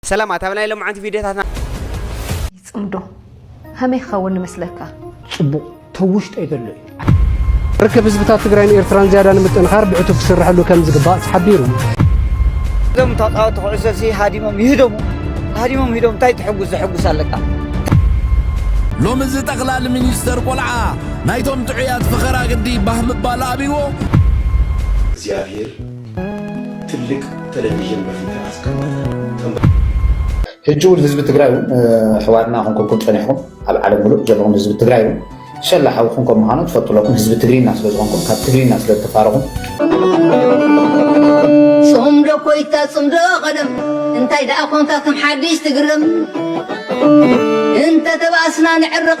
ሰላማት ኣብ ናይ ሎምዓንቲ ቪድዮታትና። ይጽምዶ ከመይ ክኸውን ይመስለካ? ጽቡቕ ተብ ውሽጠይ ዘሎ እዩ። ርክብ ህዝብታት ትግራይን ኤርትራን ዝያዳ ንምጥንኻር ብዕቱብ ክስርሐሉ ከም ዝግባእ ተሓቢሩ። እዞም ተጻወቲ ኩዕሶ ሲ ሃዲሞም ይህደሙ ሃዲሞም ሂዶም እንታይ ትሕጉስ ዘሕጉስ ኣለካ ሎሚ እዚ ጠቕላሊ ሚኒስተር ቆልዓ ናይቶም ጥዑያት ፈኸራ ግዲ ባህ ምባል ኣብይዎ እግዚኣብሔር ትልቅ ተለቪዥን በፊት ኣስቀምጠ ሕጂ እውን ህዝቢ ትግራይ እውን ኣሕዋትና ክንኩልኩም ፀኒሕኩም ኣብ ዓለም ሙሉእ ዘለኹም ህዝቢ ትግራይ እውን ሸላ ሓውኹም ከም ምዃኑ ትፈልጡ ኣለኹም ህዝቢ ትግሪና ስለ ዝኾንኩም ካብ ትግሪና ስለ ዝተፋረኹም ጽምዶ ኮይታ ጽምዶ ቀደም እንታይ ደኣ ኮንካ ከም ሓድሽ ትግርም እንተ ተባእስና ንዕርቕ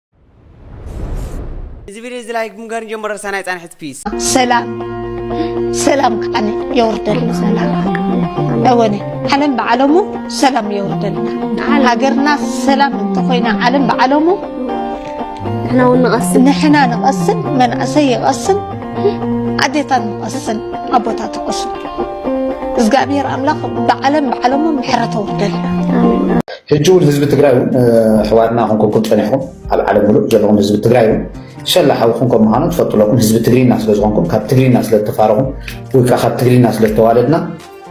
እዚ ቪድዮ እዚ ላይክ ብምግባር ንጀምሮ ሰናይ ፃንሒት ፒስ ሰላም ሰላም ከዓኒ የወርደልና ሰላም እወኒ ዓለም ብዓለሙ ሰላም የወርደልና ሃገርና ሰላም እንተኮይና ዓለም ብዓለሙ ንሕና እውን ንቐስን ንሕና ንቐስን መናእሰይ ይቐስን ኣዴታት ንቐስን ኣቦታት ይቐስን እግዚኣብሔር ኣምላኽ ብዓለም ብዓለሙ ምሕረት ኣውርደልና ህጂ ውን ህዝቢ ትግራይ ውን ኣሕዋትና ኮንኩልኩም ጸኒሕኩም ኣብ ዓለም ምሉእ ዘለኹም ህዝቢ ትግራይ ውን ሸላ ሓውኹም ከም ምዃኑ ትፈልጡ ኣለኩም ህዝቢ ትግሪና ስለ ዝኾንኩም ካብ ትግሪና ስለ ዝተፋረኹም ወይ ከዓ ካብ ትግሪና ስለ ዝተዋለድና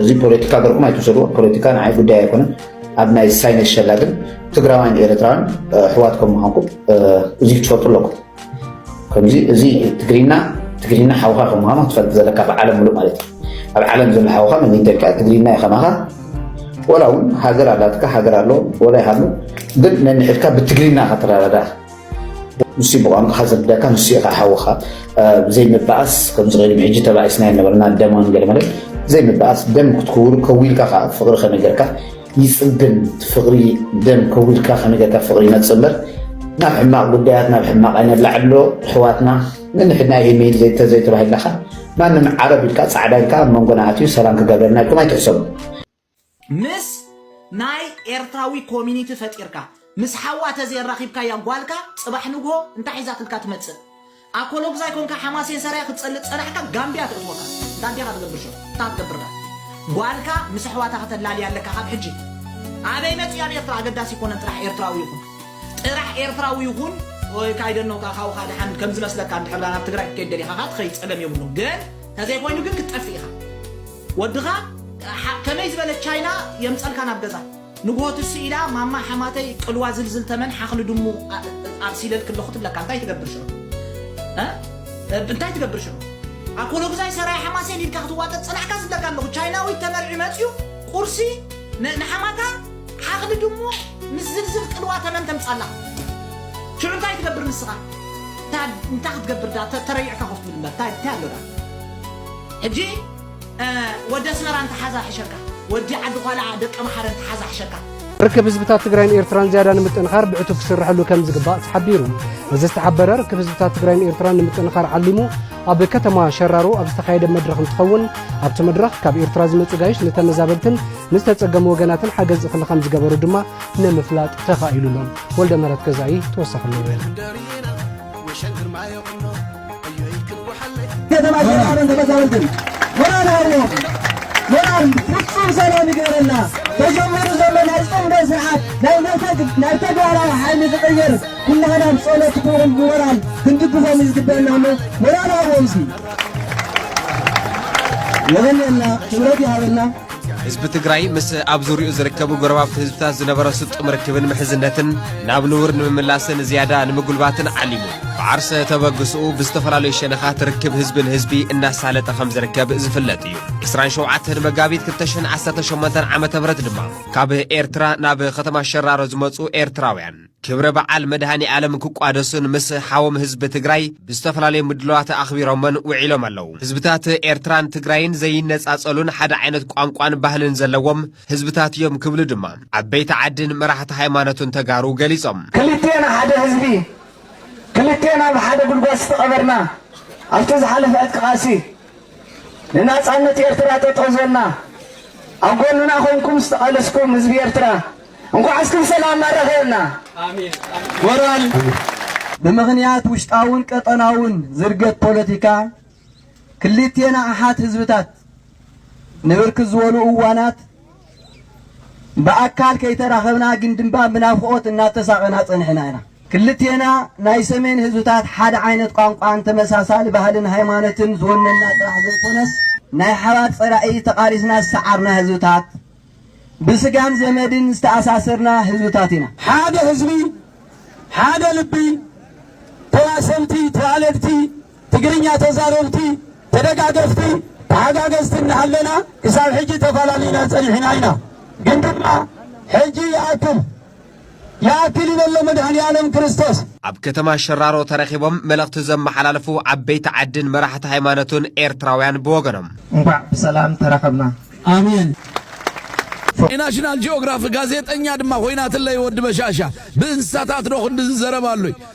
እዚ ፖለቲካ ገርኩም ኣይትውሰድዎ ፖለቲካ ንዓይ ጉዳይ ኣይኮነን ኣብ ናይ ሳይነስ ሸላ ግን ትግራዋይን ኤርትራውያን ኣሕዋት ከም ምዃንኩም እዚ ክትፈልጡ ኣለኩም ከምዚ እዚ ትግርና ትግርና ሓውኻ ከም ምዃኑ ክትፈልጥ ዘለካ ብዓለም ምሉእ ማለት እዩ ኣብ ዓለም ዘሎ ሓውኻ መን ይተካ ትግርና እዩ ከማኻ ወላ እውን ሃገር ኣላትካ ሃገር ኣሎ ወላ ይሃሉ ግን ነንሕድካ ብትግርና ከተረዳዳ ንሱ ብቋንቋኻ ዝርዳካ ንሱ ኢኻ ሓውኻ ዘይምበኣስ ከምዚ ቅድሚ ሕጂ ተባኢስና ነበርና ደማን ገለመለን ዘይምበኣስ ደም ክትክውር ከዊልካ ከዓ ፍቅሪ ከነገርካ ይጽግም እቲ ፍቅሪ ደም ከዊልካ ከመይ ገርካ ፍቅሪ ይነጽር እምበር ናብ ሕማቅ ጉዳያት ናብ ሕማቅ ኣይነላዕሎ ኣሕዋትና ንንሕድና ኢሜይል ዘይተዘይተባሂልናካ ማንም ዓረብ ኢልካ ጻዕዳ ኢልካ ኣብ መንጎና ኣትዩ ሰላም ክገብረልና ኢልኩም ኣይትሕሰቡ ምስ ናይ ኤርትራዊ ኮሚኒቲ ፈጢርካ ምስ ሓዋ ተዘየራኪብካያ ጓልካ ጽባሕ ንግሆ እንታይ ሒዛትልካ ትመጽእ ኣኮሎጉዛይ ኮንካ ሓማሴን ሰራየ ክትጸልእ ዝጸናሕካ ጋምብያ ትእትወካ እንታይ እንዲኻ ትገብር ሸር እንታይ ክትገብር ድኣ ጓልካ ምስ ኣሕዋታ ከተላልያ ኣለካ ካብ ሕጂ ኣበይ መጺኡ ኣብ ኤርትራ ኣገዳሲ ኣይኮነን ጥራሕ ኤርትራዊ ይኹን ጥራሕ ኤርትራዊ ይኹን ኦይ ካይደኖ ካኣ ካውካ ድሓን ከም ዝመስለካ እንድሕር ድኣ ናብ ትግራይ ክትከይድ ደሊኻ ካኣ ትኸይድ ጸገም የብሉን ግን ተዘይ ኮይኑ ግን ክትጠፍእ ኢኻ ወድኻ ከመይ ዝበለ ቻይና የምጸልካ ናብ ገዛ ንግሆ ትስእ ኢላ ማማ ሓማተይ ቅልዋ ዝልዝል ተመን ሓኽሊ ድሙ ኣብሲለልኪ ኣለኹ ትብለካ እንታይ ትገብር ሽዑ እ እንታይ ትገብር ሽዑ ኣኮሎግዛይ ሰራይ ሓማሴን ኢልካ ክትዋጠጥ ጸናሕካ ዝብለካ ኣለኹ ቻይናዊት ተመርዒ መጽዩ ቁርሲ ን- ንሓማታ ሓኽሊ ድሙ ምስ ዝልዝል ቅልዋ ተመን ተምጻላ ሽዑ እንታይ ትገብር ንስኻ እንታይ እንታይ ክትገብር ዳ ተ- ተረይዕካ ኮፍ ትብል እምበር እንታይ እንታይ ኣሎ ዳ ሕጂ ወዲ ኣስመራ እንተሓዛ ሕሸካ ወዲ ዓዲ ዃላዓ ደቀምሓረ እንተሓዛ ሕሸካ። ርክብ ህዝብታት ትግራይን ኤርትራን ዝያዳ ንምጥንኻር ብዕቱብ ክስርሐሉ ከምዝግባእ ተሓቢሩ። እዚ ዝተሓበረ ርክብ ህዝብታት ትግራይን ኤርትራን ንምጥንኻር ዓሊሙ ኣብ ከተማ ሸራሮ ኣብ ዝተኻየደ መድረኽ እንትኸውን ኣብቲ መድረኽ ካብ ኤርትራ ዝመፁ ጋይሽ ንተመዛበልትን ንዝተፀገሙ ወገናትን ሓገዝ እኽሊ ከምዝገበሩ ድማ ንምፍላጥ ተኻኢሉ ኣሎ። ወልደምህረት ገዛኢ ተወሳኺ ኣለዎ። ከተማ ሸራሮን ተመዛበልትን ሞራል ሃቦም ሞራል ፍጹም ሰላም ይግበረልና ተጀሚሩ ዘሎ ናይ ጽምዶ ስርዓት ናይ ነፈግ ናይ ተግባራዊ ሓይሊ ዝቕይር ኩላህና ብጸሎት ክውን ብሞራል ክንድግፎም እዩ ዝግበአና እሞ ሞራል ሃቦም ሲ የበለና ክብረት ይሃበልና ህዝቢ ትግራይ ምስ ኣብ ዙሪኡ ዝርከቡ ጎረባብቲ ህዝብታት ዝነበረ ስጡም ርክብን ምሕዝነትን ናብ ንቡር ንምምላስን ዝያዳ ንምጉልባትን ዓሊሙ ብዓርሰ ተበግስኡ ብዝተፈላለዩ ሸነኻት ርክብ ህዝቢ ንህዝቢ እናሳለጠ ከም ዝርከብ ዝፍለጥ እዩ 27 መጋቢት 2018 ዓ ም ድማ ካብ ኤርትራ ናብ ከተማ ሸራሮ ዝመፁ ኤርትራውያን ክብረ በዓል መድሃኒኣለም ክቋደሱን ምስ ሓዎም ህዝቢ ትግራይ ብዝተፈላለዩ ምድለዋት ኣኽቢሮሞን ውዒሎም ኣለዉ። ህዝብታት ኤርትራን ትግራይን ዘይነጻጸሉን ሓደ ዓይነት ቋንቋን ባህልን ዘለዎም ህዝብታት እዮም ክብሉ ድማ ዓበይቲ ዓድን መራሕቲ ሃይማኖትን ተጋሩ ገሊጾም። ክልቴና ሓደ ህዝቢ፣ ክልቴና ኣብ ሓደ ጉድጓድ ዝተቐበርና፣ ኣብቲ ዝሓለፈ ዕጥቂ ቃልሲ ንናጻነት ኤርትራ ጠጠው ዝበልና፣ ኣብ ጎንና ኮይንኩም ዝተቓለስኩም ህዝቢ ኤርትራ፣ እንኳዕ እስክን ሰላም ኣረኸብና ሞራል ብምኽንያት ውሽጣውን ቀጠናውን ዝርገት ፖለቲካ ክልቴና ኣሓት ህዝብታት ንብርክት ዝበሉ እዋናት ብኣካል ከይተራኸብና ግን ድማ ብናፍቆት እናተሳቐና ጸኒሕና ኢና። ክልቴና ናይ ሰሜን ህዝብታት ሓደ ዓይነት ቋንቋን ተመሳሳሊ ባህልን ሃይማኖትን ዝወነና ጥራሕ ዘይኮነስ ናይ ሓባር ጸላኢ ተቓሊስና ዝሰዓርና ህዝብታት ብስጋን ዘመድን ዝተኣሳሰርና ህዝብታት ኢና። ሓደ ህዝቢ፣ ሓደ ልቢ፣ ተዋሰንቲ፣ ተዋለድቲ፣ ትግርኛ ተዛረብቲ፣ ተደጋገፍቲ፣ ተሓጋገዝቲ እናሃለና ክሳብ ሕጂ ተፋላሊና ፀኒሕና ኢና። ግን ድማ ሕጂ ይኣክል! ይኣክል ይበሎ መድኃኔዓለም ክርስቶስ። ኣብ ከተማ ሸራሮ ተረኺቦም መልእኽቲ ዘመሓላለፉ ዓበይቲ ዓድን መራሕቲ ሃይማኖትን ኤርትራውያን ብወገኖም። እንኳዕ ብሰላም ተራኸብና ኣሜን። ናሽናል ጂኦግራፍ ጋዜጠኛ ድማ ኮይናትለይ ወዲ በሻሻ ብእንስሳታት ዶ ክንድዚ ዘረባ ኣሎይ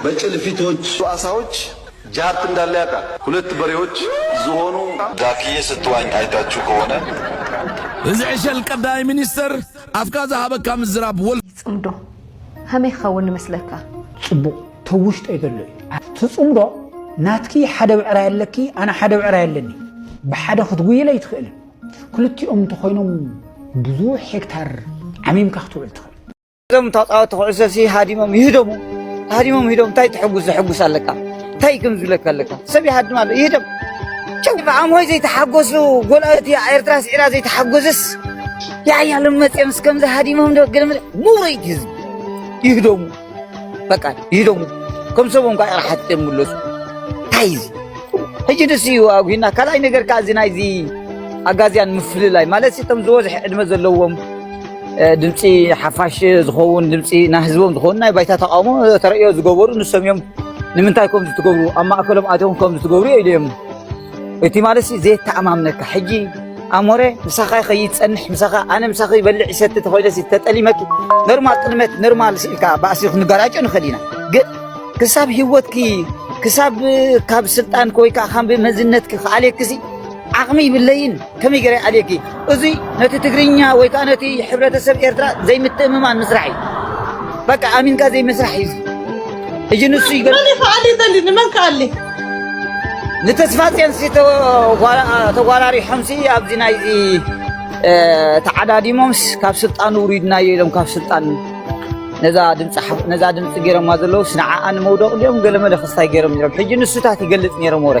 በጭልፊቶች ሩኣሳዎች ጃብት እንዳለ ያቃል። ሁለት በሬዎች ዝሆኑ። ዳክዬ ስትዋኝ አይታቹ ከሆነ። እዚ ዕሸል ቀዳማይ ሚኒስተር ኣፍካ ዝሃበካ ምዝራብ ወልፊ። ይጽምዶ ሀመይ ክከውን ይመስለካ። ጽቡቅ ተብ ውሽጠይ ዘሎ እዩ። ትጽምዶ ናትኪ ሓደ ብዕራይ ኣለኪ ኣነ ሓደ ብዕራይ ኣለኒ ብሓደ ክትጉይል ኣይትክእልን ክልቲኦም እንተኮይኖም ብዙሕ ሄክታር ዓሚምካ ክትውዕል ትክእል። እዞም ተፃወቲ ኩዕሶሲ ሃዲሞም ይህደሙ ሃዲሞም ሂዶም እንታይ ትሕጉስ ዘሕጉስ ኣለካ እንታይ ከም ዝብለካ ኣለካ ሰብ ይሃድም ኣሎ ይህደም ብዓሞይ ዘይተሓጎሱ ጎልኣቲ ኤርትራ ስዒራ ዘይተሓጎስስ ያያሎም መፅኦም እስከምዚ ሃዲሞም ዶ ገለ ሙረይቲ ህዝቢ ይህደሙ በቃ ይህደሙ ከም ሰቦም ኳ ራሓት የምለሱ እንታይ እዚ ሕጂ ደስ እዩ ኣጉሂና ካልኣይ ነገር ከዓ እዚ ናይዚ ኣጋዝያን ምፍልላይ ማለት እቶም ዝበዝሐ ዕድመ ዘለዎም ድምፂ ሓፋሽ ዝኸውን ድምፂ ናይ ህዝቦም ዝኸውን ናይ ባይታ ተቃውሞ ተርእዮ ዝገበሩ ንሶም እዮም ንምንታይ ከምዚ ትገብሩ ኣብ ማእከሎም ኣትዮም ከምዚ ትገብሩ እዮ ኢለዮም እቲ ማለት ዘየተኣማምነካ ሕጂ ኣሞረ ምሳኻ ይኸይድ ፀንሕ ምሳኻ ኣነ ምሳኺ ይበልዕ ይሰቲ ተኮይነሲ ተጠሊመኪ ኖርማል ጥልመት ኖርማል ስኢልካ ባእሲ ክንጋራጮ ንኽእል ኢና ግን ክሳብ ሂወትኪ ክሳብ ካብ ስልጣንኪ ወይ ከዓ ካብ መዝነትኪ ክኣልየኪ ዓቕሚ ይብለይን ከመይ ገይረ ኣልየኪ እዚ ነቲ ትግርኛ ወይ ከኣ ነቲ ሕብረተሰብ ኤርትራ ዘይምትእምማን ምስራሕ እዩ በቃ ኣሚንካ ዘይምስራሕ እዩ እዚ ንሱ ይገር መን ይፈዓል ይደሊ ንመን ከኣሊ ንተስፋጽዮን ሲ ተጓራሪሖም ሲ ኣብዚ ናይዚ ተዓዳዲሞምስ ካብ ስልጣን ውሪድናዮ ኢሎም ካብ ስልጣን ነዛ ድምፂ ነዛ ድምፂ ገይሮማ ዘለውስ ንዓኣ ንመውደቕ ድዮም ገለመለ ክስታይ ገይሮም ነይሮም ሕጂ ንሱታት ይገልፅ ነይሮም ወረ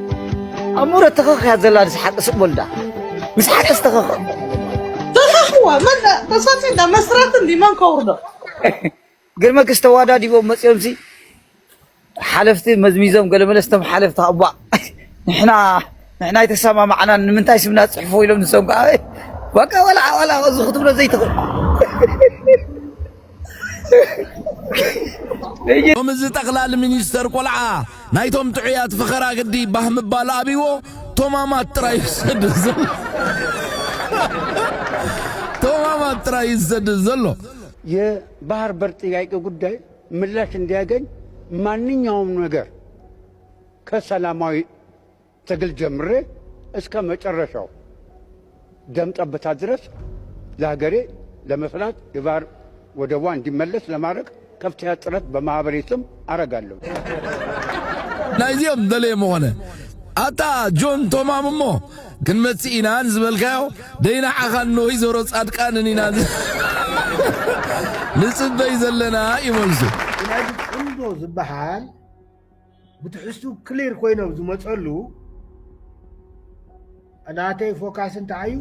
ኣሙረ ተኸኽ እያ ዘላ ንስሓቅ ስቅ በሉ ድኣ ንስሓቅ ዝተኸኽ ተኸኽዋ መን ተሳፂ እንዳ መስራት እንዲ መን ከውርዶ ግርመክስ ተዋዳዲቦም መፅኦም ሲ ሓለፍቲ መዝሚዞም ገለ መለስቶም ሓለፍቲ ኣባ ንሕና ንሕና የተሰማማዕና ንምንታይ ስምና ፅሕፎ ኢሎም ንሶም ከዓ በቃ ወላ ወላ እዚ ክትብሎ ዘይትኽእል ሎሚ እዚ ጠቕላሊ ሚኒስተር ቆልዓ ናይቶም ጥዑያት ፈኸራ ግዲ ባህ ምባል ኣብይዎ ቶማማት ጥራይ እዩ ዝሰድድ ዘሎ ቶማማት ጥራይ እዩ ዝሰድድ ዘሎ። የባህር በር ጥያቄ ጉዳይ ምላሽ እንዲያገኝ ማንኛውም ነገር ከሰላማዊ ትግል ጀምሬ እስከ መጨረሻው ደም ጠብታ ድረስ ለሀገሬ ለመስራት የባህር ወደቧ እንዲመለስ ለማድረግ ከፍተኛ ጥረት በማህበሬ ስም አረጋለሁ። ናይዚኦም ደለየ ምኾነ ኣታ ጆን ቶማም እሞ ክንመጽእ ኢና ዝበልካዮ ደይናዓኻ እነሆይ ዞሮ ጻድቃንን ኢና ንጽበይ ዘለና እዩ መልሱ። ስለዚ ጽምዶ ዝበሃል ብትሕዝትኡ ክሊር ኮይኖ ኣብ ዝመፀሉ ናተይ ፎካስ እንታይ እዩ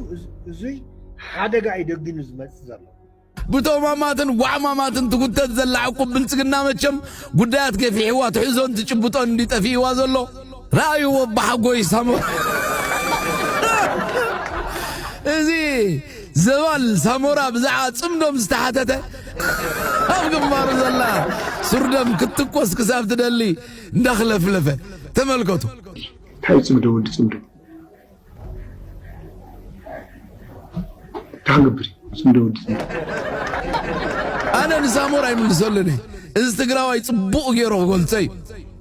እዙይ ሓደጋ እዩ ደጊኑ ዝመፅእ ዘሎ ብጦማማትን ጓዕማማትን ትጉተት ዘላ ዕቁብ ብልጽግና መቸም ጉዳያት ገፊሕዋ ትሕዞን ትጭብጦን እንዲ ጠፊእዋ ዘሎ ረኣይዎ ብሓጎይ ሳሞ እዚ ዘባል ሳሞራ ብዛዕባ ጽምዶም ዝተሓተተ ኣብ ግንባሩ ዘላ ሱርደም ክትትኮስ ክሳብ ትደሊ እንዳኽለፍለፈ ተመልከቱ። እንታይ ጽምዶ ወዲ ጽምዶ እንታይ ክንገብር ጽምዶ ወዲ ጽምዶ ኣነ ንሳሞራ ይምልሰሉኒ እዚ ትግራዋይ ጽቡቕ ገይሩ ክገልጸ እዩ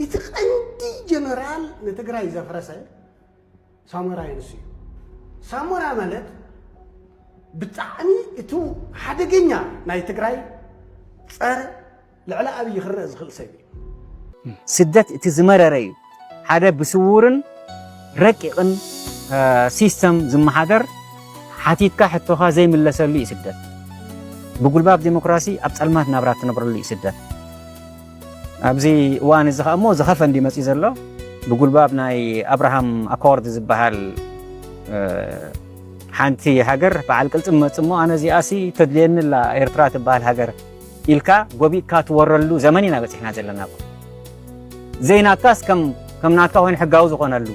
እቲ ቀንዲ ጀነራል ንትግራይ ዘፍረሰ ሳሞራይ ንሱ እዩ። ሳሞራ ማለት ብጣዕሚ እቲ ሓደገኛ ናይ ትግራይ ፀረ ልዕሊ ኣብይ ክረእ ዝኽእል ሰብ እዩ። ስደት እቲ ዝመረረ እዩ። ሓደ ብስዉርን ረቂቕን ሲስተም ዝመሓደር ሓቲትካ ሕቶኻ ዘይምለሰሉ እዩ ስደት። ብጉልባብ ዴሞክራሲ ኣብ ፀልማት ናብራ እትነብረሉ እዩ ስደት። ኣብዚ እዋን እዚ ከኣ እሞ ዝኸፈ እንድዩ መጺኡ ዘሎ። ብጉልባብ ናይ ኣብርሃም ኣኮርድ ዝበሃል ሓንቲ ሃገር በዓል ቅልጽም መጽእ እሞ ኣነ እዚኣሲ ተድልየኒ ኣላ ኤርትራ ትበሃል ሃገር ኢልካ ጎቢእካ ትወረሉ ዘመን ኢና በጺሕና ዘለና። ዘይናትካስ ከም ከም ናትካ ኮይኑ ሕጋዊ ዝኾነሉ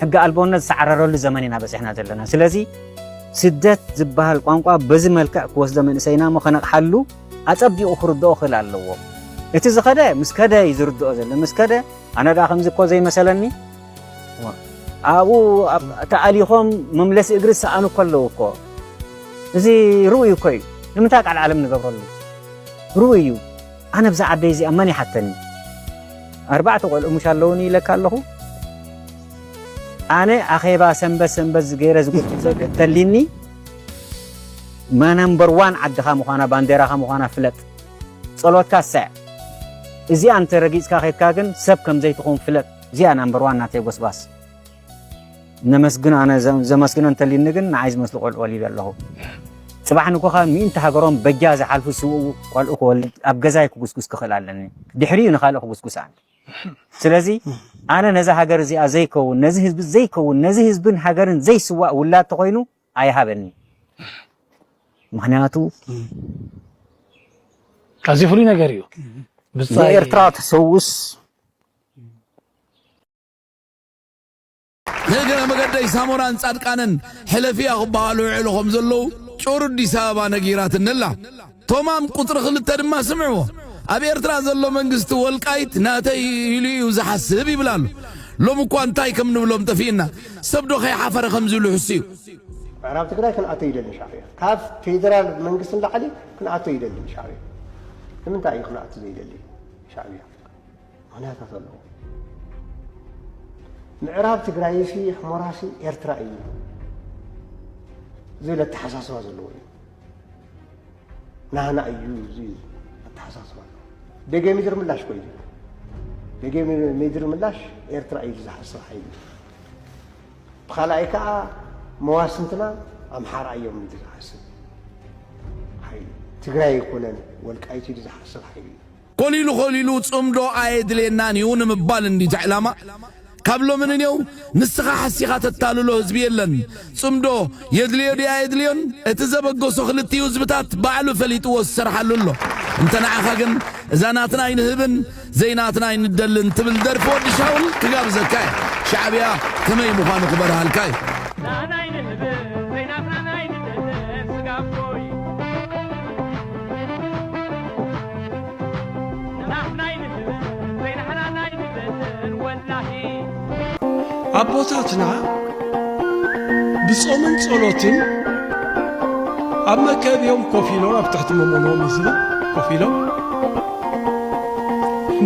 ሕጊ ኣልቦነት ዝሰዓረረሉ ዘመን ኢና በጺሕና ዘለና። ስለዚ ስደት ዝበሃል ቋንቋ በዚ መልክዕ ክወስዶ መንእሰይና እሞ ከነቕሓሉ ኣጸቢቑ ክርድኦ ክል ኣለዎ እቲ ዝኸደ ምስ ከደ እዩ ዝርድኦ ዘሎ ምስ ከደ ኣነ ደኣ ከምዚ እኮ ዘይመሰለኒ ኣብኡ ተኣሊኾም መምለሲ እግሪ ዝሰኣኑ እኮ ኣለዉ እኮ እዚ ርኡይ እኮ እዩ ንምንታይ ቃል ዓለም ንገብረሉ ርኡይ እዩ ኣነ ብዛ ዓደይ እዚኣ መን ይሓተኒ ኣርባዕተ ቆልዑ ሙሽ ኣለውኒ ኢለካ ኣለኹ ኣነ ኣኼባ ሰንበት ሰንበት ዝገይረ ዝጎትቶ ተሊኒ ማናምበር ዋን ዓድኻ ምዃና ባንዴራኻ ምዃና ፍለጥ ጸሎትካ ሰዕ እዚኣ እንተ ረጊጽካ ኬድካ ግን ሰብ ከም ዘይትኾን ፍለጥ እዚኣ ናምበር ዋን ናተይ ጎስጓስ ነመስግን ኣነ ዘመስግኖ እንተልዩኒ ግን ንዓይ ዝመስሉ ቆልዑ ወሊደ ኣለኹ ጽባሕ ንግሆ ካብ ሚእንቲ ሃገሮም በጃ ዝሓልፉ ስውኡ ቆልዑ ክወልድ ኣብ ገዛይ ክጉስጉስ ክኽእል ኣለኒ ድሕሪኡ ንኻልእ ክጉስጉስ ኣነ ስለዚ ኣነ ነዛ ሃገር እዚኣ ዘይከውን ነዚ ህዝቢ ዘይከውን ነዚ ህዝብን ሃገርን ዘይስዋእ ውላድ ተኾይኑ ኣይሃበኒ ምክንያቱ ኣዝዩ ፍሉይ ነገር እዩ ብጻይ ኤርትራ ተሰውስ ንእግረ መገደይ ሳሞራን ጻድቃንን ሕለፍያ ክበሃሉ ይውዕሉ ከም ዘለዉ ጩር ኣዲስ ኣበባ ነጊራትኒ ኣላ። ቶማም ቁጽሪ ክልተ ድማ ስምዕዎ። ኣብ ኤርትራ ዘሎ መንግስቲ ወልቃይት ናተይ እዩ ኢሉ እዩ ዝሓስብ ይብል ኣሎ። ሎሚ እኳ እንታይ ከም ንብሎም ጠፊእና። ሰብ ዶ ከይሓፈረ ከምዚ ኢሉ ይሕሱ እዩ። ምዕራብ ትግራይ ክንኣቶ ይደሊ ሻዕብያ። ካብ ፌደራል መንግስቲ ንላዕሊ ክንኣቶ ይደሊ ሻዕብያ። ንምንታይ እዩ ክንኣቱ ዘይደሊ ሻዕብያ? ምክንያታት ኣለዎ ምዕራብ ትግራይ ሲ ሕሞራ ሲ ኤርትራ እዩ ዝብል ኣተሓሳስባ ዘለዎ እዩ ናህና እዩ ዝብል ኣተሓሳስባ ኣለዎ ደገ ምድሪ ምላሽ ኮይኑ ደገ ምድሪ ምላሽ ኤርትራ እዩ ዝሓስብ ሓይሊ ብካልኣይ ከዓ መዋስንትና ኣምሓራ እዮም ኢሉ ዝሓስብ ሓይሊ ትግራይ ኣይኮነን ወልቃይት ኢሉ ዝሓስብ ሓይሊ እዩ ኮሊሉ ኮሊሉ ጽምዶ ኣየድልየናን እዩ ንምባል እንድዩ እቲ ዕላማ ካብ ሎሚ ንኔው ንስኻ ሓሲኻ ተታልሎ ህዝቢ የለን ጽምዶ የድልዮ ድዩ ኣየድልዮን እቲ ዘበገሶ ክልቲኡ ህዝብታት ባዕሉ ፈሊጥዎ ዝሰርሓሉ ኣሎ እንተ ንዓኻ ግን እዛ ናትና ኣይንህብን ዘይናትና ኣይንደልን ትብል ደርፊ ወዲ ሻውል ክጋብዘካ እየ ሻዕብያ ከመይ ምዃኑ ክበርሃልካ እዩ ኣቦታትና ብጾምን ጸሎትን ኣብ መከብዮም ኮፍ ኢሎም ኣብ ትሕቲ መሞኖም ህዝቢ ኮፍ ኢሎም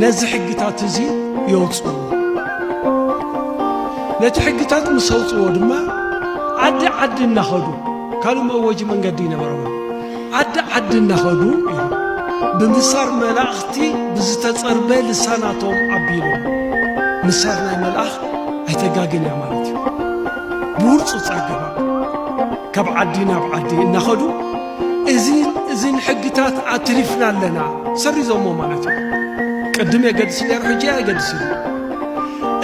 ነዚ ሕግታት እዚ የውፅዎ ነቲ ሕግታት ምስ ኣውፅዎ ድማ ዓዲ ዓዲ እናኸዱ ካልእ መወጂ መንገዲ ይነበረዎ ዓዲ ዓዲ እናኸዱ እዮም ብምሳር መላእኽቲ ብዝተጸርበ ልሳናቶም ኣቢሎም። ምሳር ናይ መልኣኽ ኣይተጋግን እያ ማለት እዩ። ብውርጹጽ ኣገባብ ካብ ዓዲ ናብ ዓዲ እናኸዱ እዚን እዚን ሕግታት ኣትሪፍና ኣለና ሰሪዞሞ ማለት እዩ። ቅድም የገድስ ነይሩ ሕጂ ኣየገድስ እዩ።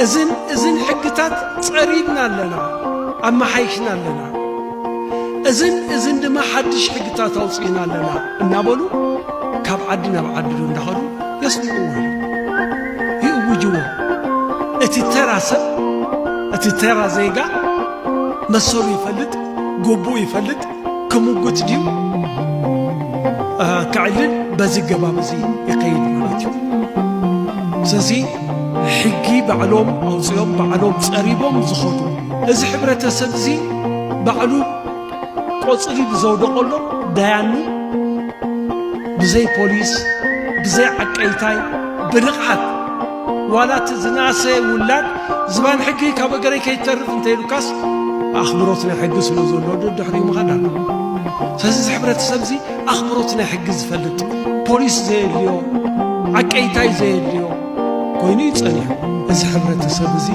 እዚን እዚን ሕግታት ጸሪግና ኣለና ኣመሓይሽና ኣለና። እዝን እዝን ድማ ሓድሽ ሕግታት ኣውፅእና ኣለና እናበሉ ካብ ዓዲ ናብ ዓዲ ዶ እንዳኸዱ የስምዕዎ ይእውጅዎ እቲ ተራ ሰብ እቲ ተራ ዜጋ መሰሉ ይፈልጥ ጎቡኡ ይፈልጥ ክምጉት ድዩ ከዕልል በዚ ገባብ እዚ ይኸይድ ማለት እዩ ስለዚ ሕጊ ባዕሎም ኣውፂኦም ባዕሎም ፀሪቦም ዝኸዱ እዚ ሕብረተሰብ እዚ ባዕሉ ቆፅሊ ብዘውደቐሎም ዳያኑ ብዘይ ፖሊስ ብዘይ ዓቀይታይ ብንቕሓት ዋላ እቲ ዝነኣሰ ውላድ ዝባን ሕጊ ካብ እገረይ ከይተርፍ እንተይሉካስ ኣኽብሮት ናይ ሕጊ ስለ ዘሎ ድሕሪኡ ምኻድ ኣለዎ ስለዚ እዚ ሕብረተሰብ እዚ ኣኽብሮት ናይ ሕጊ ዝፈልጥ ፖሊስ ዘየድልዮ ዓቀይታይ ዘየድልዮ ኮይኑ እዩ ጸኒሑ እዚ ሕብረተሰብ እዚ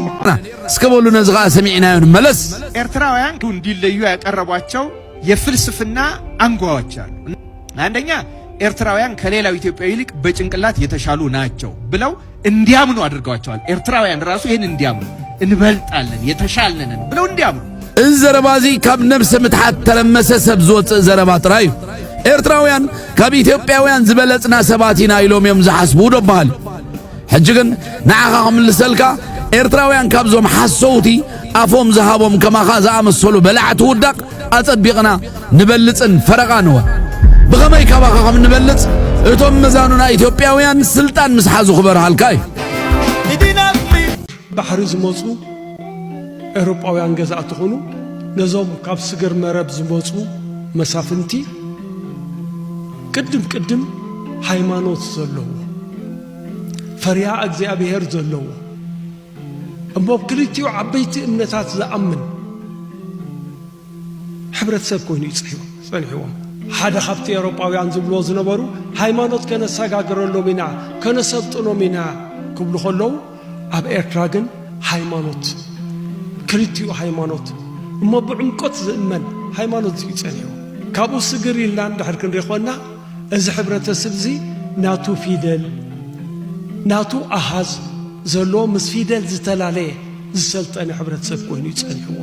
እስከ በሉ ነዚ ከዓ ሰሚዕናዮ ንመለስ ኤርትራውያን እንዲለዩ ያቀረቧቸው የፍልስፍና አንጓዎች አሉ አንደኛ ኤርትራውያን ከሌላው ኢትዮጵያዊ ይልቅ በጭንቅላት የተሻሉ ናቸው ብለው እንዲያምኑ አድርገዋቸዋል። ኤርትራውያን ራሱ ይህን እንዲያምኑ እንበልጣለን የተሻልነን ብለው እንዲያምኑ እዚ ዘረባ እዚ ካብ ነብሰ ምትሓት ተለመሰ ሰብ ዝወፅእ ዘረባ ጥራይ እዩ። ኤርትራውያን ካብ ኢትዮጵያውያን ዝበለጽና ሰባት ኢና ኢሎም እዮም ዝሓስቡ ዶ በሃል ሕጂ ግን ንዓኻ ክምልሰልካ ኤርትራውያን ካብዞም ሓሰውቲ ኣፎም ዝሃቦም ከማኻ ዝኣመሰሉ በላዕቲ ውዳቕ ኣጸቢቕና ንበልጽን ፈረቓንወ ብኸመይ ካባኻ ከም ንበልጽ እቶም መዛኑና ኢትዮጵያውያን ስልጣን ምስ ሓዙ ክበርሃልካ እዩ ባሕሪ ዝመፁ ኤውሮጳውያን ገዛእቲ ኾኑ ነዞም ካብ ስግር መረብ ዝመፁ መሳፍንቲ ቅድም ቅድም ሃይማኖት ዘለዎ ፈሪሃ እግዚኣብሔር ዘለዎ እሞ ኣብ ክልቲኡ ዓበይቲ እምነታት ዝኣምን ሕብረተሰብ ኮይኑ እዩ ጸኒሕዎም። ሓደ ካብቲ ኤውሮጳውያን ዝብልዎ ዝነበሩ ሃይማኖት ከነሰጋግረሎም ኢና ከነሰልጥኖም ኢና ክብሉ ከለዉ ኣብ ኤርትራ ግን ሃይማኖት ክልቲኡ ሃይማኖት እሞ ብዕምቆት ዝእመን ሃይማኖት እዩ ጸኒሑ ካብኡ ስግር ኢልና እንድሕር ክንሪኾና እዚ ሕብረተስብዚ ናቱ ፊደል ናቱ ኣሃዝ ዘለዎ ምስ ፊደል ዝተላለየ ዝሰልጠነ ሕብረተሰብ ኮይኑ እዩ ጸኒሕዎ።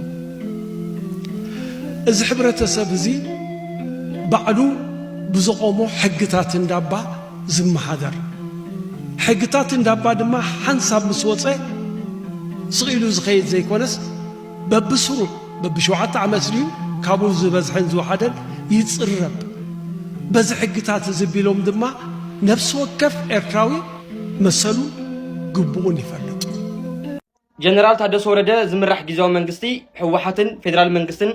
እዚ ሕብረተሰብ እዚ ባዕሉ ብዘቆሞ ሕግታት እንዳባ ዝመሃደር ሕግታት እንዳባ ድማ ሓንሳብ ምስ ወጸ ስቕ ኢሉ ዝኸይድ ዘይኮነስ በብስሩዕ በብሸውዓተ ዓመት ድዩ ካብኡ ዝበዝሐን ዝወሓደን ይጽረብ። በዚ ሕግታት እዚ ቢሎም ድማ ነፍሲ ወከፍ ኤርትራዊ መሰሉን ግቡኡን ይፈልጥ። ጀነራል ታደሰ ወረደ ዝምራሕ ጊዜያዊ መንግስቲ ህወሓትን ፌደራል መንግስትን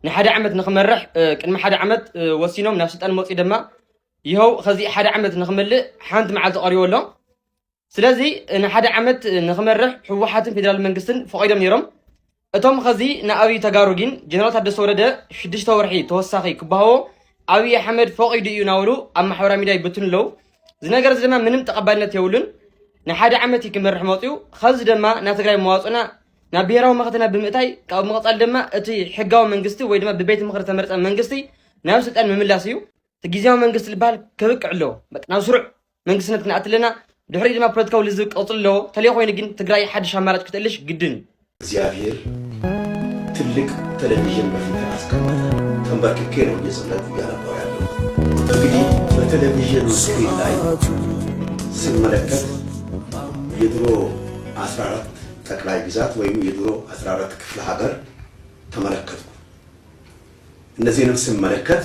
ንሓደ ዓመት ንክመርሕ ቅድሚ ሓደ ዓመት ወሲኖም ናብ ስልጣን መፅኡ ድማ ይኸው ከዚ ሓደ ዓመት ንክመልእ ሓንቲ መዓልቲ ቀሪቦ ኣሎ። ስለዚ ንሓደ ዓመት ንክመርሕ ህወሓትን ፌደራል መንግስትን ፈቒዶም ነይሮም። እቶም ኸዚ ንኣብይ ተጋሩ ግን ጀነራል ታደሰ ወረደ ሽዱሽተ ወርሒ ተወሳኺ ክበሃዎ ኣብይ ኣሕመድ ፈቒዱ እዩ ናበሉ ኣብ ማሕበራዊ ሚዲያ ይብትኑ ኣለዉ። እዚ ነገር እዚ ድማ ምንም ተቐባልነት የብሉን። ንሓደ ዓመት እዩ ክመርሕ መፅኡ። ኸዚ ድማ ናብ ትግራይ መዋፅኡና ናብ ብሄራዊ መኸተና ብምእታይ ካብኡ መቐፃሊ ድማ እቲ ሕጋዊ መንግስቲ ወይ ድማ ብቤት ምኽሪ ተመርፀ መንግስቲ ናብ ስልጣን ምምላስ እዩ። እቲ ግዜያዊ መንግስቲ ዝበሃል ከብቅዕ ኣለዎ ናብ ስሩዕ መንግስትነት ክንኣት ኣለና ድሕሪ ድማ ፖለቲካዊ ልዝብ ቀፅሉ ኣለዎ ተለይ ኮይኑ ግን ትግራይ ሓድሽ ኣማራጭ ክትእልሽ ግድን እዩ እግዚኣብሔር ትልቅ ቴሌቪዥን በፊት አስቀመጠ። ተንበርክኬ ነው እየጸለይኩ እያነባሁ ያለው። እንግዲህ በቴሌቪዥኑ ስክሪን ላይ ስመለከት የድሮ 14 ጠቅላይ ግዛት ወይም የድሮ 14 ክፍለ ሀገር ተመለከትኩ። እነዚህንም ስመለከት